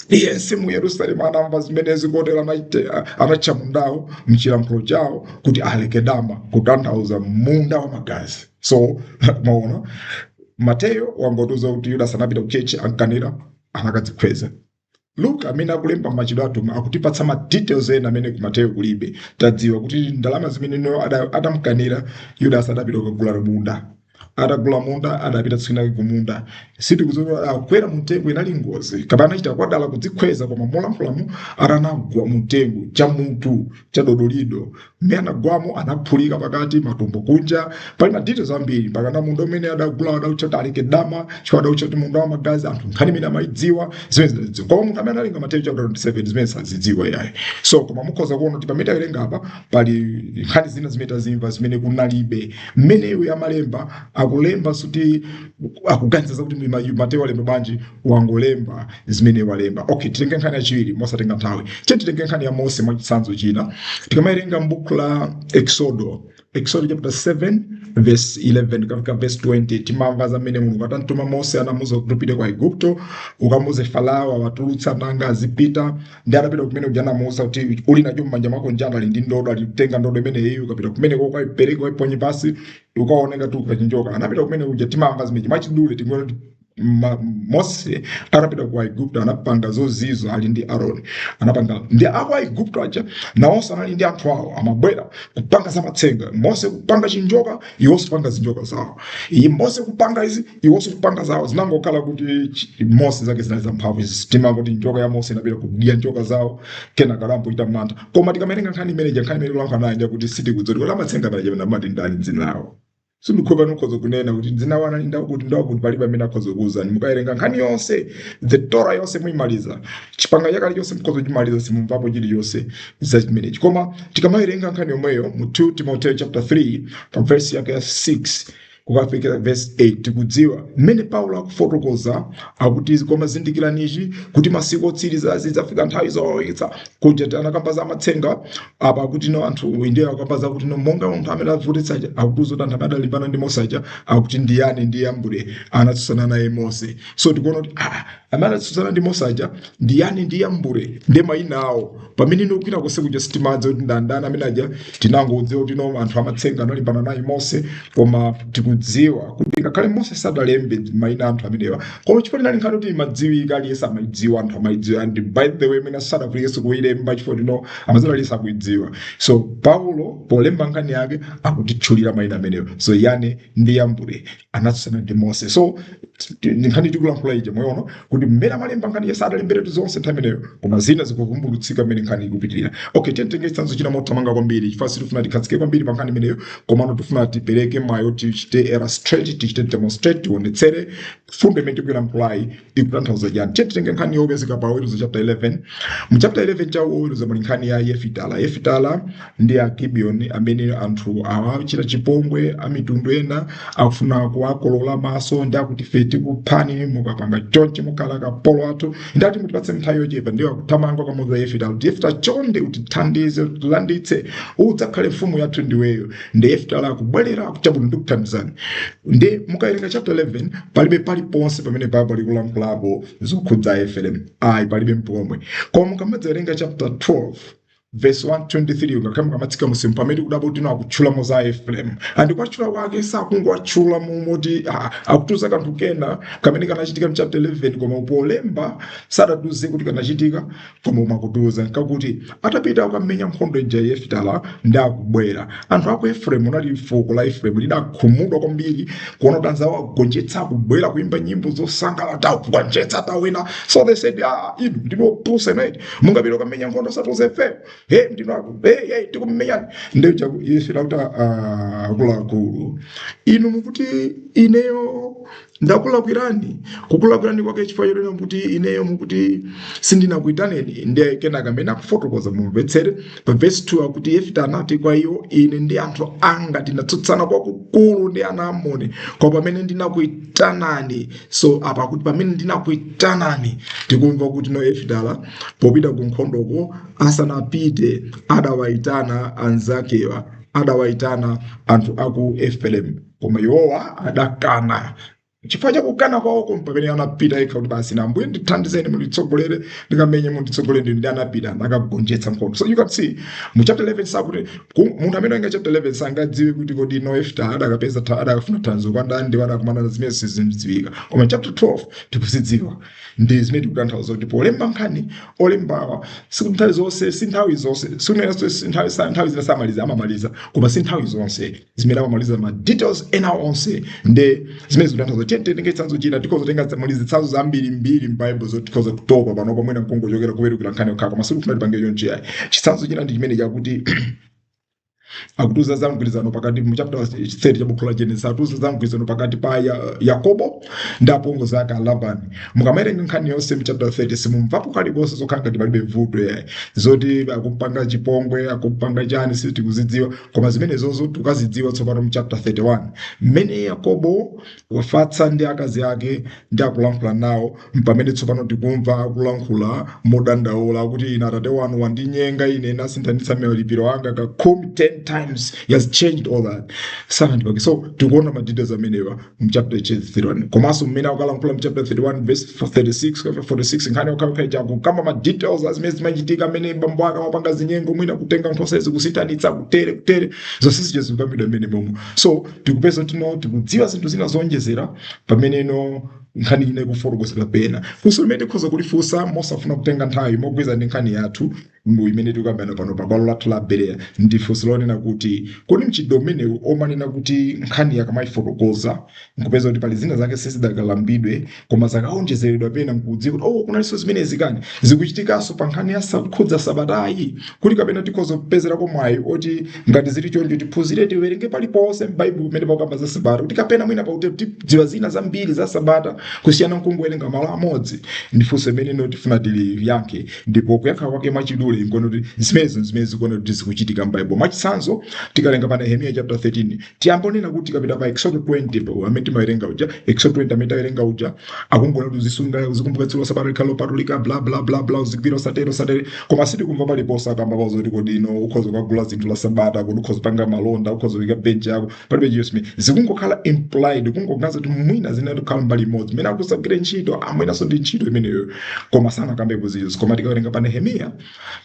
aliyense mu yerusalemu anamva zimenezi kotero anatcha mundawo mchilankhulo chawo kuti alekedama kutanthauza munda wa magazi so maona mateyo wangotiuza kuti yudas anapita kuchechi amkanira anakadzikhweza luka amene akulemba machitidwe atumwi akutipatsa ma details ena amene kumateyo kulibe tadziwa kuti ndalama zimenezo ada- adamkanira yudas adapita kukagula munda atagula munda adapita tsiku linake kumunda sitikudziwa kuti adakwera mumtengo inali ngozi kapena anachita kwadala kudzikhweza koma mukulankhulamo akuti anagwa mumtengo chamutu chadodolido mmene anagwamo anaphulika pakati matumbo kunja pali ma details ambiri mpakana munda umene adagula adautcha kuti alekedama chifukwa adautcha kuti munda wa magazi anthu nkhani imene amayidziwa zimenezi anazidziwa koma munthu amene awerenga mateyu chapter 27 zimenezi sazidziwa yayi so koma mukhoza kuona kuti pamene tawerenga apa pali nkhani zina zimene tazimva zimene kunalibe mmene iye amalemba akulemba sikuti akuganiza zakuti mlima yu- mateyu walemba bwanji wangolemba zimene walemba okay titenge nkhani yachiwiri mosatenga nthawi eh titenge nkhani ya mose mwa chitsanzo china tikamawerenga m'buku la exodo exodo chapter 7 verse 11 kukafika verse 20 timamva za mmene mulungu atamtuma mose anamuuza kuti upite ku aigupto ukamuuze farao awatulutse ana anga azipita ndi anapita kumene kuja anamuuza kuti uli nacho m'manja mwako nchiyani ali ndi ndodo ati tenga ndodo imeneyi ukapita kumeneko ukaipereka ukaiponye pansi ukaoneka tu ukachinjoka anapita kumene kuja timamva zimeji mwachidule tingona kuti ma- mose anapita ku aigupto anapanga zozizwa ali ndi aroni anapanga ndiye aku aigupto aja nawonso anali ndi anthu awo amabwera kupanga zamatsenga mose kupanga chinjoka Iwonso kupanga zinjoka zawo iyi Mose kupanga izi iwonso kupanga zawo zinangokhala kuti chi- Mose zake zinali za mphamvu timamva kuti njoka ya Mose inapita kudya njoka zawo kenaka anachita mantha koma tikamatenga nkhani imene ija nkhani imene kulankhula nayo ndiye kuti sitikudziwa kuti amatsenga paja kapena amati ndani dzina lawo sindikuti pano mukhoza kunena kuti dzina lawo anali akuti akuti palibe amene akhoza kukuwuzani mukawerenga nkhani yonse the Torah yonse muyimaliza chipangano chakale chonse mukhoza kuchimaliza simumvapo chiliyonse za chimenechi koma tikamawerenga nkhani yomweyo mu 2 timoteo chapter 3 pa vesi yake ya 6 kukafikira vesi 8 tikudziwa mmene paulo akufotokoza akuti koma zindikira ichi kuti masiku otsiriza zidzafika nthawi zowawitsa kuja ti anakamba za matsenga apa akuti no anthu ndiye akamba za kuti no monga anthu amene avutitsa aja akutiuza kuti anthu amene adalimbana ndi mose aja akuti ndi yane ndi yambre anatsutsana naye mose so tikuona kuti ah, amene anatsutsana ndi mose aja ndi yane ndi yambure ndi mayina awo pamene ino kwina konse kuja sitimadziwa kuti ndi ndani amene aja tinangodziwa kuti no anthu amatsenga analimbana naye mose koma tikudziwa kuti ngakhale mose sadalembe mayina anthu amenewa koma chifukwa choti inali nkhani yoti imadziwika aliyense amayidziwa anthu amayidziwa and by the way mwina sadakulemba kuyilemba chifukwa choti no amadziwa aliyense akuyidziwa so paulo polemba nkhani yake akutitchulira mayina amenewa so yane ndi yambure anatsutsana ndi mose so t- t- ndi nkhani tikulankhula ija mwayiona kuti mmene amalemba nkhani ija sadalemberetu zonse nthawi imeneyo koma zina zikuvumbulutsika mmene nkhani ikupitirira okay tiyeni titenge chitsanzo china mothamanga kwambiri chifukwa sitifuna tikhazikike kwambiri pa nkhani imeneyo komano tifuna tipereke mayo tichite illustrate tichite demonstrate tionetsere fundo imene tikuyilankhulayi ikutanthauza chani okay titenge nkhani yopezeka pa oweruza chapter 11 mu chapter 11 cha oweruza muli nkhani ya yefita yefita ndi agibiyoni amene anthu awachita chipongwe amitundu ena akufuna kuwakolola maso ndi akuti ife tikuphani mukapanda chonchi mukhala akapolo athu ndiye akuti mutipatse nthawi yochepa ndiwo akuthamanga kukamuuza yefita kuti yefita chonde utithandize utilanditse udzakhale mfumu yathu ndiweyo ndiye yefita akubwerera akuti chabwino ndikuthandizani ndiye mukawerenga chapter 11 palibe paliponse pamene baibulo likulankhulapo zokhudza efereimu ayi palibe mpomwe koma mukamadzawerenga chapter 12 verse 123 ngakhale mukamatsika mmunsimu pamene kudabwa kuti no akutchulamo za efereimu and kuwatchula kwake sakungowatchula mmomo ayi akutiuza kanthu kena kamene kanachitika mchapter 11 koma wolemba sadatiuze kuti kanachitika koma makutiuza nkakuti atapita kukamenya nkhondo ija yefita ndiye akubwera anthu aku efereimu linali fuko la efereimu lidakhumudwa kwambiri kuona kuti anzawo akugonjetsa akubwera kuimba nyimbo zosangalala tagonjetsa tawina so they said ah inu ndinu opusa mmene mungapite kukamenya nkhondo osatiuza ife he ndinu aku he he tikumenyani ndiye akuti yefita kuti akuluakulu inu mukuti ineyo ndakulakwirani kukulakwirani kwake chifukwa chonena kuti ineyo mukuti sindinakuitaneni ndiye kenaka mmene akufotokoza mumvetsere pa vesi 2 akuti yefita anati kwa iwo ine ndi anthu anga tinatsutsana kwakukulu ndi ana a amoni koma pamene ndinakuitanani so apa kuti pamene ndinakuitanani tikumva kuti no yefita popita ku nkhondoko asanapite adawaitana anzakewa adawaitana anthu aku efereimu koma iwowa adakana chifukwa chakukana kwawoko mpamene anapita yekha kuti basi no ambuye ndithandizeni munditsogolere ndikamenye munditsogolere ndinu ndiye anapita nakagonjetsa nkhondo so you can see mu chapter 11 sakuti ku- munthu amene wawerenga chapter 11 sangadziwe kuti kodi no yefita adakapeza tha- adakafuna thandizo kwa ndani ndipo adakumana na zimene sizikudziwika koma chapter 12 tikuzidziwa ndi zimene tikutanthauza kuti polemba nkhani olembawa si nthawi zonse si nthawi zonse si kunena si nthawi sa- nthawi zina samaliza amamaliza koma si nthawi zonse zimene amamaliza ma details ena onse ndiye zimene zikutanthauza tiye titenge chitsanzo china tikhoza kutenga muli zitsanzo zambirimbiri m'baibulo zoti tikhoza kutopa pano pa mwina nkungochokera kuwerukira nkhani yokhayo koma sikufuna tipange chonchi ayi chitsanzo china ndi chimene chakuti akutiuza za mgwirizano pakati mu chapter 30 cha buku la Genesis akutiuza za mgwirizano pakati pa ya, Yakobo ndi apongozi ake a Labani mukamawerenga nkhani yonse mu chapter 30 simumvamo kalikonse zokhala ngati palibe vuto yayi zoti akumpanga chipongwe akumpanga chani sitikuzidziwa koma zimenezozo tikuzidziwa tsopano mu chapter 31 mmene yakobo wafatsa ndi akazi ake ndiye akulankhula nawo mpamene tsopano tikumva akulankhula modandaula kuti ine atate wanu wandinyenga ine nasinthanitsa malipiro anga kakhumi 10 times he has changed all that sanandipake so tikuona ma details amenewo mchapter 31 komanso mmene akukalankhula mchapter 31 verse 36 kapena 46 nkhani yokhayokhayi akukamba ma details a zimene zimachitika amene bambo ake amapanga zinyengo mwina kutenga nkhosa izi kusinthanitsa kutere kutere zonse zija zikukambidwa mmene momo so tikupeza kuti no tikudziwa zinthu zina zowonjezera pameneno nkhani ina ikufotokozera pena funso limene tikhoza kulifunsa mosafuna kutenga nthawi mogwirizana ndi nkhani yathu mu imene tikukambirana pano pa bwalo lathu la bereya ndi funso lonena kuti kodi mchitidwe umenewu womanena kuti nkhani akamayifotokoza nkupeza kuti pali zina zake sizidakalambidwe koma zakawonjezeredwa pena nkudziwa kuti oh kunalinso zimenezi kani zikuchitikanso pa nkhani ya sa- khudza sabatayi kuti kapena tikhoza kupezerako mwayi woti ngati zili choncho tiphunzire tiwerenge paliponse m'baibulo pamene pakamba za sabata kuti kapena mwina pakuti tidziwa zina zambiri za sabata kusiyana nkungowerenga malo amodzi ndi funso limene ino tifuna tiliyankhe ndipo kuyankha kwake mwachidule nkunena kuti zimenezo zimene zikuona kuti zikuchitika m'baibulo mwachitsanzo tikawerenga pa nehemiya chapter 13 tiyambe nkunena kuti tikapita pa exodo 20 pa- amene timawerenga uja exodo 20 amene tawerenga uja akungonena kuti uzisunga uzikumbukira tsiku la sabata likhale lopatulika bla bla bla bla uzigwira usatero usatero koma sitikumva paliponse akamba kutiuza kuti kodi ino ukhoza kukagula zinthu la sabata kuti ukhoza kupanga malonda ukhoza kuika benchi yako palibe chilichonse zikungokhala implied kungoganiza kuti mwina zimakhala mbali imodzi imene ya kusagwira ntchito mwinanso ndi ntchito imeneyo koma sanakambe kuti izo koma tikawerenga pa nehemiya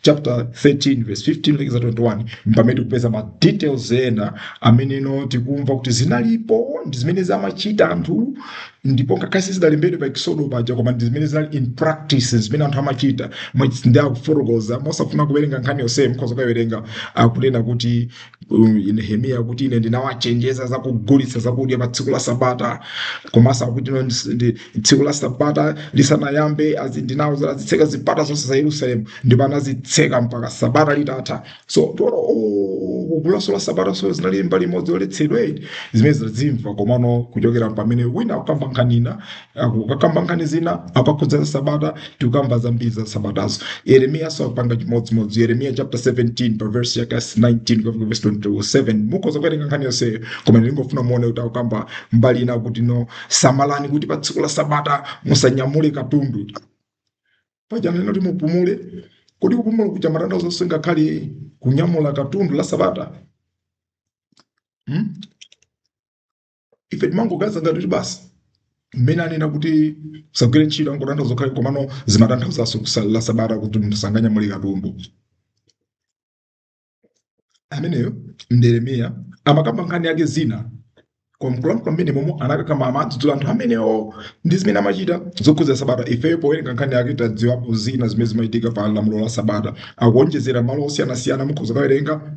chapter 13 verse 15 lekeza 21 mpamene tikupeza ma details ena ameneno tikumva kuti zinalipo ndi zimene amachita anthu ndipo ngakhale sizidalembedwe pa eksodo paja koma ndi zimene zinali in practice zimene anthu amachita ndiye akufotokoza mosafuna kuwerenga nkhani yonseyo mukhoza kukawerenga akunena kuti Nehemiya akuti ine ndinawachenjeza za kugulitsa zakudya pa tsiku la Sabata, komanso akuti ino ndis- ndi- tsiku la Sabata lisanayambe azi- ndinawauza azitseka zipata zonse za Yerusalemu ndipo anazitseka mpaka Sabata litatha. So tiona oh, kugulanso la Sabatanso zinali mbali imodzi yoletsedwa eti zimene taziimva komano kuchokera pamene wina akukamba nkhani ina akukamba nkhani zina zokhudza sabata tikukamba zambiri za sabatazo yeremiya akupanga chimodzimodzi yeremiya chapter 17 pa verse yake 19 kufika verse 27 mukhoza kuwerenga nkhani yonseyo koma ndingofuna muone kuti akukamba mbali ina kuti no samalani kuti pa tsiku la sabata musanyamule katundu paja ananena tizipumula kodi kupumula kuja kumatanthauza ngakhale kunyamula katundu la sabata hmm? ife timangoganiza ngati kuti basi mmene anena kuti kusagwira ntchito akungotanthauza zokhazi komano zimatanthauzanso kusunga sabata kuti munthu sanganyamule katundu ameneyo ndi yeremiya amakamba nkhani yake zina kwa akuluakulu mmene momwe amakamba amadzudzula anthu amenewo ndi zimene amachita zokhudza sabata ifeyo powerenga nkhani yake tadziwapo zina zimene zimachitika pa lamulo la sabata akuonjezera malo osiyanasiyana mukhoza kukawerenga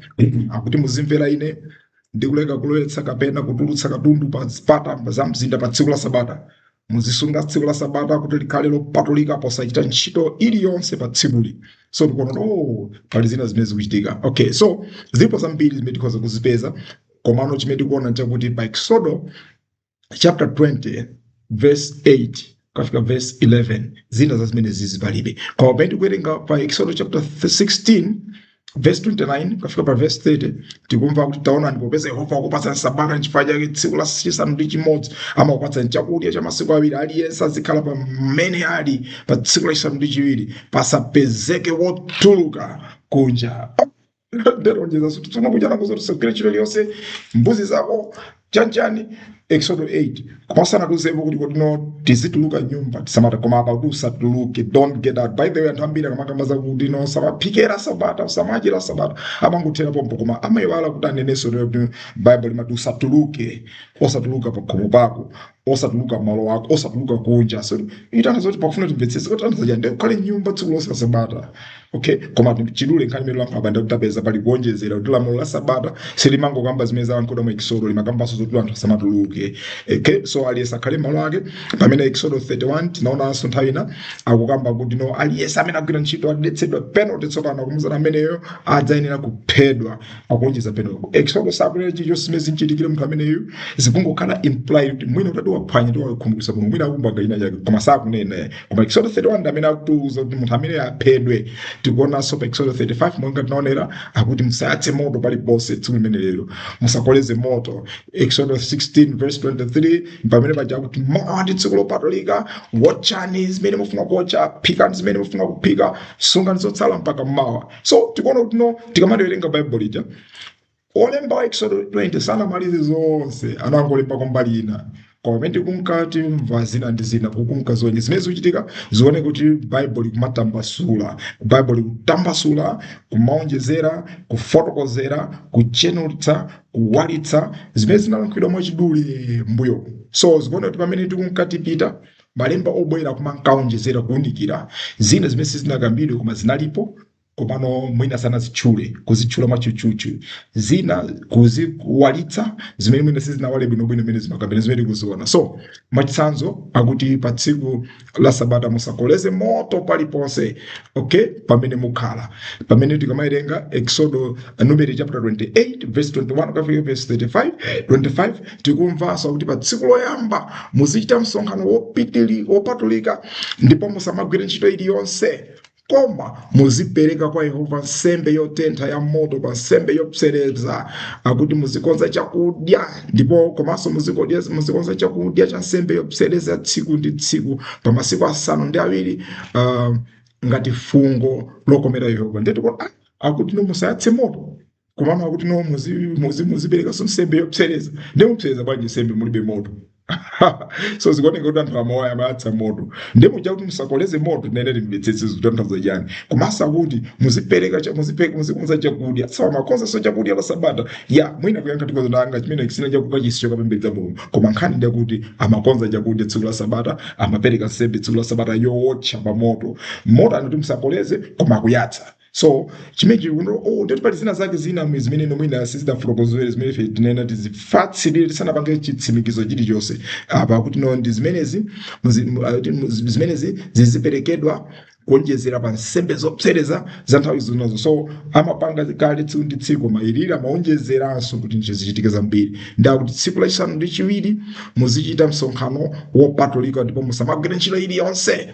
akuti muzimvera ine ndi kuleka kulowetsa kapena kutulutsa katundu pa zipata za mzinda pa tsiku la Sabata. Muzisunga tsiku la Sabata kuti likhale lopatulika posachita ntchito iliyonse pa tsikuli. So tikuona oh, pali zina zimene zikuchitika. Okay, so zilipo zambiri zimene tikhoza kuzipeza komano chimene tikuona nchakuti pa Eksodo chapter 20 verse 8 kukafika verse 11 zina za zimenezizi palibe koma pamene tikuwerenga pa exodo chapter 16 verse 29 kukafika pa verse 30 tikumva kuti taonani popeza yehova wakupatsani sabata nchifukwa chake tsiku la chisanu ndi chimodzi amakupatsani chakudya cha masiku awiri aliyense azikhala pamene ali pa tsiku la chisanu ndi chiwiri pasapezeke wotuluka kunja Dero njeza suti tsona kuchana kuzo tusogere chilichonse mbuzi zako chanchani Exodo 20 verse 8 kumasana tuzepo kuti kodino tizituluka mnyumba tsiku la sabata koma apa akuti usatuluke don't get out by the way anthu ambiri akamakamba za kuti no usamaphikire sabata usamachapire sabata amangothera pompo koma amayiwala kuti anenenso lero kuti bible limati usatuluke osatuluka pakhomo pako osatuluka mmalo ako osatuluka kunja so zikutanthauza zoti pakufuna timvetsese kuti anthu aja azikhala mnyumba tsiku lonse la sabata okay koma mwachidule nkhani imene tikulankhula apa ndi yakuti tapeza pali kuonjezera kuti lamulo la sabata silimangokamba zimene zalankhulidwa mu ekisodo limakambanso zoti anthu asamatuluke okay so aliyense akhale malo ake pamene ekisodo 31 tinaonanso nthawi ina akukamba kuti no aliyense amene agwira ntchito adetsa penalty tsopano akutiuza ameneyo adzayenera kuphedwa akuonjezera pamenepo exodo sakunena chilichonse zimene zimchitikire munthu ameneyu zikungokhala imply kuti mwina atati waphwanya ndiye wakhumudwitsa mulungu mwina akupanga chinachake koma sakunena koma exodo 31 ndi amene akutiuza kuti munthu ameneyo aphedwe tikuonanso pa exodo 35 monga tinaonera akuti musayatse moto paliponse tsiku limenelo musakoleze moto exodo 16 verse 23 pamene paja akuti mawa ndi tsiku lopatulika wotchani zimene mufuna kuotcha phikani zimene mufuna kuphika sungani zotsala mpaka mmawa so tikuona kuti no tikamaliwerenga baibulo lija olemba wa exodo 20 sanamalize zonse anangolemba kwambali ina koma pamene tikunka tikumva zina ndi zina kukunka zonse zimene zikuchitika zione kuti baibulo likumatambasula baibulo likutambasula kumaonjezera kufotokozera kutsenutsa kuwalitsa zimene zinalankhulidwa mwachidule mbuyo so tikuona kuti pamene tikunka tipita Malemba obwera kumanka awonjezera kuunikira zina zimene sizinakambidwe koma zinalipo komano mwina sanazitchule, kuzitchula mwatchutchutchu, zina kuziwalitsa zimene mwina sizinawale bwinobwino mmene zimakambidwa zimene tikuziona. So mwachitsanzo akuti pa tsiku la Sabata musakoleze moto paliponse okay, pamene mukhala pamene tikamawerenga Eksodo Numeri chapter 28 verse 21 kukafika verse 35 25 Tikumvanso kuti pa tsiku loyamba muzichita msonkhano wopitili wopatulika ndipo musamagwire ntchito iliyonse, koma muzipereka kwa Yehova nsembe yotentha ya moto pa nsembe yopsereza, akuti muzikonza chakudya ndipo komanso muzikodya muzikonza chakudya cha nsembe yopsereza tsiku ndi tsiku pa masiku asanu ndi awiri ah, ngati fungo lokomera Yehova. Ndiyetu kuti ah, akuti no musayatse moto komano akuti no muzi- muzi- muziperekanso nsembe yopsereza ndiye mupsereza bwanji nsembe mulibe moto so zikuoneka kuti anthu amawaya amayatsa moto ndiye muja kuti musakoleze moto ndiye timvetsetse zikutanthauza chani komanso akuti muzipereka cha- muzipe- muzikonza chakudya so amakonzanso chakudya la sabata ya mwina kuyankha tikozo nanga chimene kisina chakudya chisi chokapembedza mulungu koma nkhani ndi yakuti amakonza chakudya tsiku la sabata amapereka nsembe tsiku la sabata yowotcha pa moto moto anati musakoleze koma akuyatsa So chimechi uno oh, toti pali zina zake zina mu zimene ino mwina sizidafotokozere zimene ife tinena tizifatsirire tisanapange chitsimikizo chilichonse apa kuti no ndi zimenezi muzi- mu- ah, kuti mu- zimenezi ziziperekedwa kuonjezera pa nsembe zopsereza za nthawi zonse so amapanga kale tsiku ndi tsiku koma ilili amaonjezeranso kuti ndicho zichitike zambiri ndiye akuti tsiku lachisanu ndi chiwiri muzichita msonkhano wopatulika ndipo musamagwire ntchito iliyonse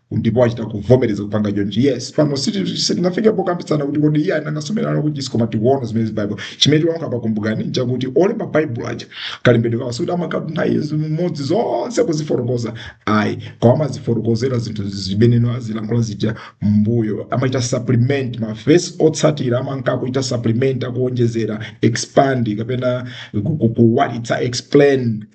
ndipo achita kuvomereza kupanga chonchi yes pano siti- sitingafike pokambitsana kuti kodi iye anangasomerana kuchisi koma tikuona zimene zi bible chimene tinganene apa kumbukani nchakuti olemba bible aja kalembedwe kawo sikuti amakatha zimodzi zonse kuzifotokoza ayi koma amazifotokozera zinthu zimene anazilankhula zija mbuyo amachita supplement mavesi otsatira amanka kuchita supplement akuonjezera expand kapena ku- ku- kuwalitsa explain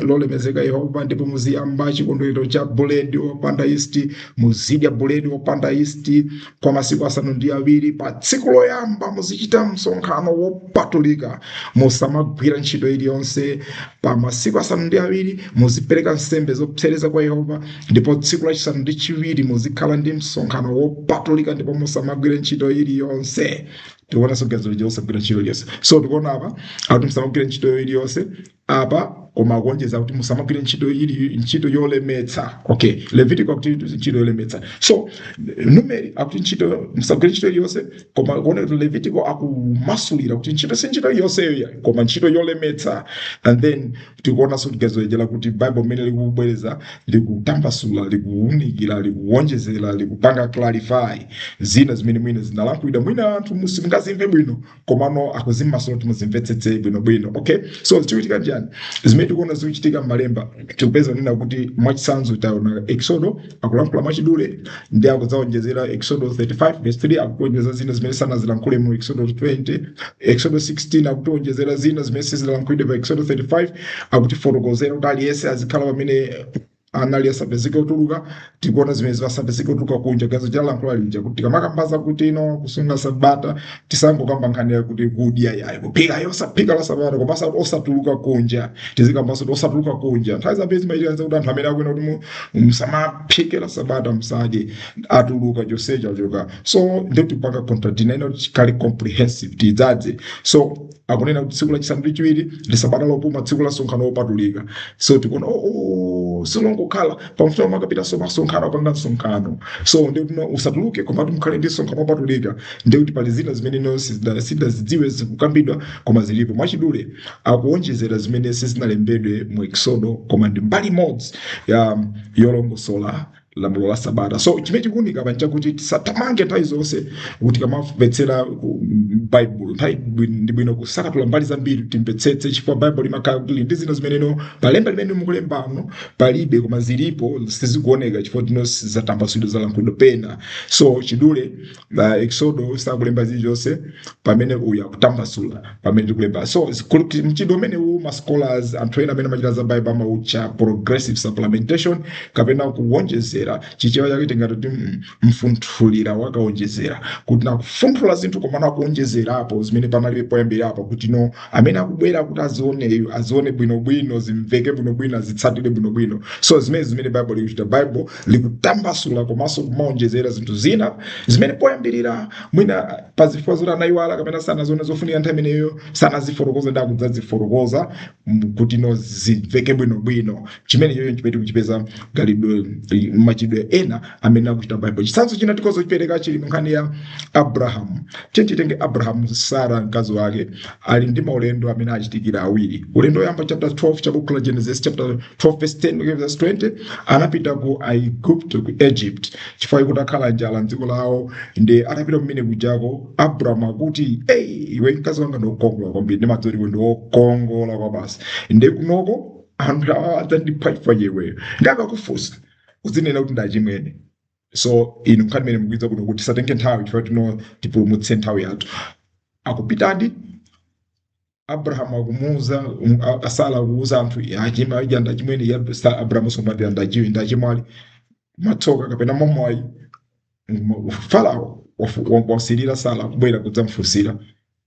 lolemezeka yehova ndipo muziyamba chikondwerero cha buledi wopanda yisti muzidya buledi wopanda yisti kwa masiku asanu ndi awiri pa tsiku loyamba muzichita msonkhano wopatulika musamagwira ntchito iliyonse pa masiku asanu ndi awiri muzipereka nsembe zopsereza kwa yehova ndipo tsiku lachisanu ndi chiwiri muzikhala ndi msonkhano wopatulika ndipo musamagwira ntchito iliyonse taona sogezo lija usagwira ntchito iliyonse so tikuona apa akuti musamagwira ntchito iliyonse apa koma akuonjeza kuti musamagwire ntchito ili ntchito yolemetsa okay levitiko akuti ntchito yolemetsa so numeri akuti ntchito musagwire ntchito iliyonse koma kuona kuti levitiko akumasulira kuti ntchito si ntchito iliyonseyo ya koma ntchito yolemetsa and then tikuonanso kuti gezo ija lakuti bible mmene likubwereza likutambasula likuunikira likuwonjezera likupanga clarify zina zimene mwina zinalankhulidwa mwina anthu simungazimve bwino komano akuzimasula kuti muzimvetsetse bwinobwino okay so zikuchitika njani zimene tikuona zikuchitika m'malemba tikupeza kunena kuti mwachitsanzo taona eksodo akulankhula mwachidule ndi akudzaonjezera eksodo 35 verse 3 akutionjezera zina zimene sanazilankhule mu eksodo 20 eksodo 16 akutionjezera zina zimene sizinalankhulidwe pa eksodo 35 akutifotokozera kuti aliyense azikhala pamene anali asapezeke otuluka tikuona zimene asapezeke otuluka kunja gezo chalankhula lija kuti tikamakamba zakuti no kusunga sabata tisangokamba nkhani yakuti kudya yayi kuphika yosaphika la sabata koma osati osatuluka kunja tizikambanso kuti osatuluka kunja nthawi zambiri zimachitika kuti anthu amene akunena kuti mu- musamaphike la sabata musadye atuluka chonsecho achoka so ndetipanga contradina ino chikali comprehensive tidzadze so akunena kuti tsiku lachisanu ndi chiwiri ndi sabata lopuma tsiku la msonkhano wopatulika so tikuona oh, oh, siwongokhala pamfuta amakapitanso kumsonkhano apanga msonkhano so ndikuti no, usatuluke komatu mukhale ndi msonkhano wopatulika ndikuti pali zina zimene no sizida- sidazidziwe zikukambidwa koma zilipo mwachidule akuonjezera zimene sizinalembedwe mu eksodo koma ndi mbali imodzi ya yolongosola lamulo la sabata so chimene chikuunika apa nchakuti tisatamange nthawi zonse kuti tikamamvetsera ku- m- baibulo nthawi bwi- ndi bwino kusakatula mbali zambiri timvetsetse chifukwa baibulo limakhala kuti lili ndi zina zimeneno palemba limene mukulembamo palibe koma zilipo sizikuoneka chifukwa choti no zatambasulidwa zalankhulidwa pena so chidule la exodo sakulemba zilizonse pamene uyu akutambasula pamene tikulemba so zikulu- mchitidwe umenewu ma scholars anthu ena amene amachita za bible amautcha progressive supplementation kapena kuwonjezera chichewa chake tingati kuti mm, mfunthulira wakawonjezera kuti no akufunthula zinthu koma no akuwonjezerapo zimene panalibe poyambirapo kuti no amene akubwera kuti azioneyu azione bwinobwino zimveke bwinobwino azitsatire bwinobwino so nzimene zimene bible likuchita bible likutambasula komanso kumaonjezera zinthu zina zimene poyambirira mwina pa zifukwa zoti anayiwala kapena sanaziona zofunika nthawi imeneyo sanazifotokoza nde akudzazifotokoza m- kuti no zimveke bwinobwino chimenechocho ndi chimene tikuchipeza khalidwe machidwe ena amene akuchita bible chitsanzo china tikhoza kuchipereka chili mu nkhani ya abrahamu tiyeni titenge abrahamu sara mkazi wake ali ndi maulendo amene achitikira awiri ulendo woyamba chapter 12 ya buku la genesis chapter 12 verse 10 mpaka verse 20 anapita ku aigupto ku egypt chifukwa chakuti kwakhala njala mdziko lawo nde atapita kumene kujako abraham akuti ii iwe mkazi wanga ndi wokongola kwambiri ndi madzi oliwe ndi wokongola kwa basi nde kunoko anthu awa adzandipha chifukwa cha iweyo nde akakufunsa udzinena kuti ndi achimwene so inu nkhani imeneyi mukuidziwa kungoti kuti tisatenge nthawi chifukwa tino tipulumutse nthawi yathu akupitadi abrahamu akumuuza um, a- a sara akuuza anthu achina aja ndi achimwene ya sa- abrahamu so amati ndi achiwi ndi achemwali mwatsoka kapena mwamwayi farao wafu- wa- wasilira sara kubwera kudzamfunsira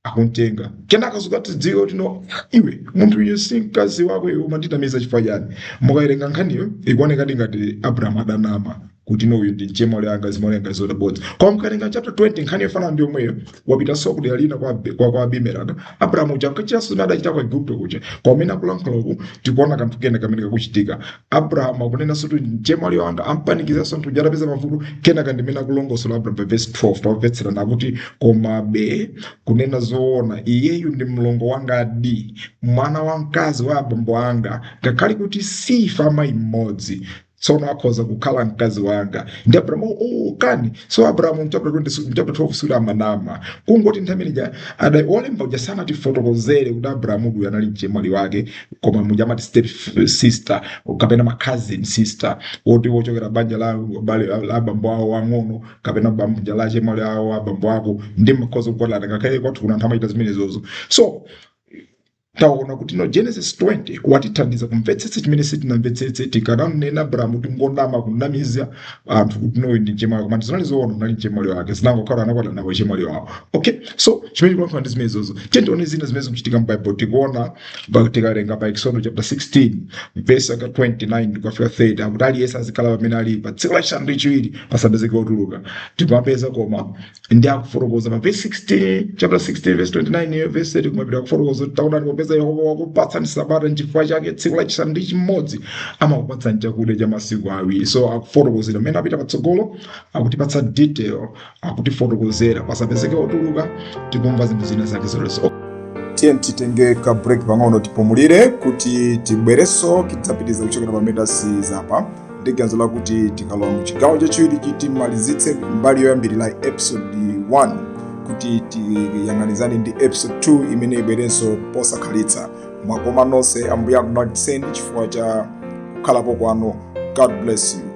akuntenga kenaka zikadziwika kuti no iwe munthu uyu si mkazi wako iwe umandinamiza chifukwa chani mukawerenga nkhaniyo ikuonekadi ngati abrahamu adanama kuti no uyu ndi mchemwali wanga zimaoneka zabodza koma mukawerenga chapter 20 nkhani yofanana ndi yomweyo wapitanso kudera lina kwa, Abe- kwa, kwa abimeleki abrahamu uja ankachitanso zimene adachita ku aigupto kuja koma mmene akulankhula uku tikuona kanthu kena kamene kakuchitika abraham akunenanso kuti mchemwali wanga ampanikizanso anthu aja apeza mavuto kenaka ndi mmene akulongosola abraham pa vesi 12 tamvetserani akuti komabe kunena zoona iyeyo ndi mlongo wangadi mwana wamkazi wa abambo anga ngakhale kuti si wa amayi mmodzi tsono akhoza kukhala mkazi wanga ndi abrahamu oh, kani so abrahamu mchapter 20 mchapter 12 sikuti amanama kungoti nthawi imene ija ada wolemba uja sanatifotokozere kuti abrahamu uyu anali mchemwali wake koma muja amati step sister kapena ma cousin sister woti wochokera banja la bale la- la abambo awo ang'ono kapena banja la chemwali awo abambo ako nde amakhoza kukwatana ngakhale kwathu kuno anthu amachita zimenezozo so tikuona kuti no genesis 20 watithandiza kumvetsetsa chimene sitinamvetsetse tikanamnena abrahamu kuti ngonama kunamiza anthu kuti no uyu ndi mchemwali koma zinali zoona anali mchemwali wake zinangokhala anakwatana nawo chemwali wawo okay so chimene tikulankhula ndi zimenezozo tiyeni tione zina zimene zikuchitika mu bible tikuona Baibulo tikawerenga pa Eksodo chapter 16 verse yake 29 kukafika 30 akuti aliyense azikhala pamene ali pa tsiku lachisanu ndi chiwiri pasapezeke wotuluka tikumapeza koma nde akufotokoza pa verse 16 chapter 16 verse 29 yo verse 30 kumapita akufotokoza kuti taonani popeza yehova wakupatsani sabata nchifukwa chake tsiku lachisanu ndi chimodzi amakupatsani chakudya cha masiku awiri so akufotokozera mmene akupita patsogolo akutipatsa detail akutifotokozera pasapezeke otuluka tikumva zinthu zina zake zolowe tiyeni titenge ka break pang'ono tipumulire kuti tibwerenso tidzapitiriza kuchokera pamene tasiya apa ndi ganizo lakuti tikalowa mu chigawo chachiwiri chi timalizitse mbali yoyambirira episode 1 kuti tiyang'anizane ndi episode 2 imene ibwerenso posakhalitsa mwakoma nonse ambuye akudalitseni chifukwa cha kukhalapo kwanu god bless you